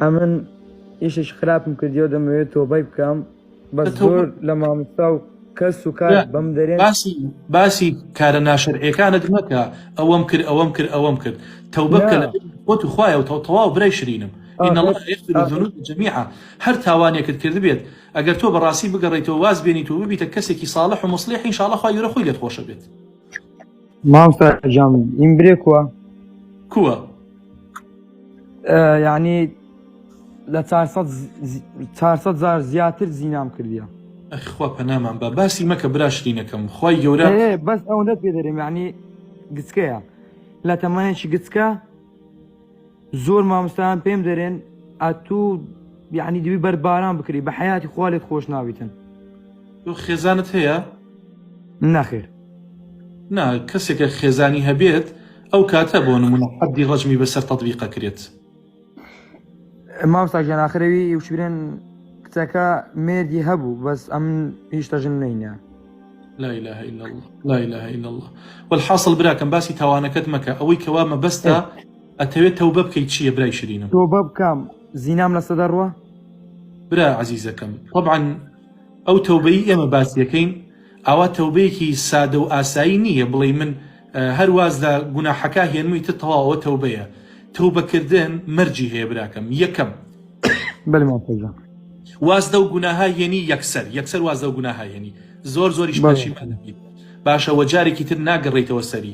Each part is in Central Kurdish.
ئەمن ئیشێکی خراپم کردیەوە دەمەوێت تۆبەی بکەم بەس زۆر لە ماموستا و کەس و کار بەم دەرێن باسی باسی کارە ناشەرعەکانت مەکە ئەوەم کرد ئەوەم کرد ئەوەم کرد تەوبە بکە لە خۆت و خوایە و تەواو برای شرینم إن الله يغفر الذنوب جميعا هەر تاوانێکت کردبێت ئەگەر تۆ بەڕاستی بگەڕێیتەوە واز بێنیت و ببیتە کەسێکی صاڵح و موصلح ان شاء اللە خوای گەورە خۆی لێت خۆشە بێت. مامۆستا جام ئیم برێ کووە کووە یعنی لە 400 زار زیاتر زینام کردیە ئەخوا پەنامان بە باسی مەکە براشتینەکەم خی گەورە بەس ئەوەندە پێ دەرێم یعنی گچکەیە لە تەمانێکی گچکە زۆر مامستان پێم دەرێن ئەتوو یعنی دوی بەر باران بکری بە حیاتی خوالێت خۆش ناویتن تۆ خێزانت هەیە نەخێر نا کەسێکە خێزانی هەبێت ئەو کاتە بۆ نمونە حەدی ڕەجمی بەسەر تەدویقە کرێت مامستا ژیان ئاخرەوی وشبرێن کچەکە مێردی هەبوو بەس ئەم هیچ تەژن نینە لا إله إلا الله لا إله إلا الله والحاصل براکەم باسی تاوانەکەت مەکە ئەوەی کەوا مەبەستە ئەتەوێ تەوبە بکەی چیە برای شرینم. تۆبە بکەم زینام لەسەدە ڕوە؟ برا عەزیزەکەم تەبعەن ئەو تەوبەی ئێمە باسیەکەین ئاوا تەوبەیەکی سادە و ئاسایی نی یە بڵێی من هەر واز لە گوناحەکە هێنموی تر تەواو ئەوە تەوبە یە تەوبە کردن مەرجی هەیە براکەم یەکەم بەلی مامۆستا گیان. واز لەو گوناهە هێنی یەکسەر یەکسەر واز لەو گوناهە هێنی زۆر زۆریش بەلی. پەشیمان ئەبیت باشە وە جارێکی تر ناگەڕێیتەوە سەری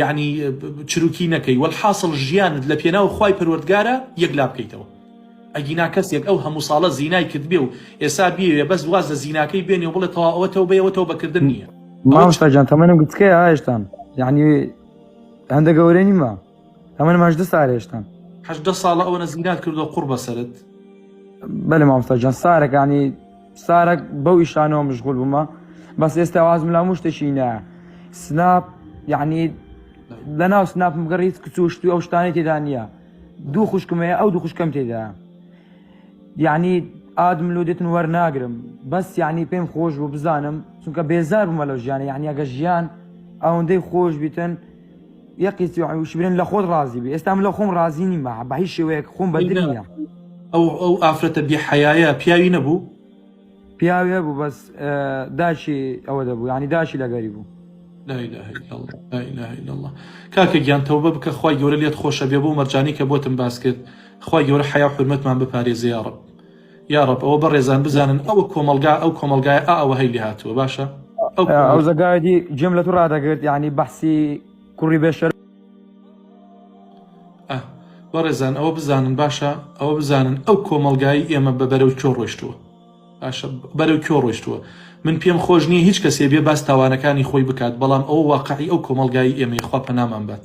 یەعنی چروکی نەکەی وەلحاسڵ ژیانت لە پێناو خوای پەروەردگارا یەکلابکەیتەوە ئەگینا کەسێک ئەو هەموو ساڵە زینای کردبێ و ئێسا بیەوێ بەس واز لە زیناکەی بێنێ و بڵێ تەوا ئەوە تەوبەیە ئەوە تەوبەکردن نییە مامۆستا گیان تەمەنم گوتکەیە هێشتان یعنی هەندە گەورە نیمە تەمەنم هەژدە سال هێشتان هەژدە ساڵە ئەوەنە زینات کردووە قوڕ بەسەرت بەلێ مامۆستا گیان سارەکانی سارەک بەو ئیشانەوە مشغول بوومە بەس ئێستا وازم لە مشتێکی نە سناپ یعنی لە ناو سناپم گەڕیت کچوشتوی ئەو شتانی تێدا نییە دوو خوشکمەیە ئەو دوو خوشکم تێدا یعنی ئادم لو دێتن وەرناگرم بەس یعنی پێم خۆش بوو بزانم چونکە بێزار بوومە لەو ژیانە یعنی ئەگە ژیان ئەوەندەی خۆش بیتن یەقی سی و شبرێن لە خۆت ڕازی بی ئێستا من لە خۆم ڕازی نیمە بە هیچ شێوەیەک خۆم بەدر ئینجا نییە ئەو ئەو ئافرەتە بێ حەیایە پیاوی نەبوو پیاوی هەبوو بەس ئە، داشی ئەوە دەبوو یعنی داشی لەگەری بوو لا اله الا الله لا اله الا الله کاکە گیان تەوبە بکە خوای گەورە لێت خۆشە بێ بەو مەرجانەی کە بۆتم باس کرد خوای گەورە حەیا و حورمەتمان بپارێزێ یاڕەب یاڕەب ئەوە بەڕێزان بزانن ئەوە کۆمەلگا ئەو کۆمەلگای ئا ئەوە هەی لێ هاتووە باشە ئەو زگایدی جێم لە تو ڕدەگرت یعنی بەحسی کوڕی بێشەر بەڕێزان ئەوە بزانن باشە ئەوە بزانن ئەو کۆمەلگایی ئێمە بە بەرەو کۆ ڕۆشتووە باشە بەرەو کۆ ڕۆشتووە من پێم خۆش نییە هیچ کەسێ بێ باس تاوانەکانی خۆی بکات بەڵام ئەو واقعی ئەو کۆمەلگای ئێمەی خوا پەنامان بات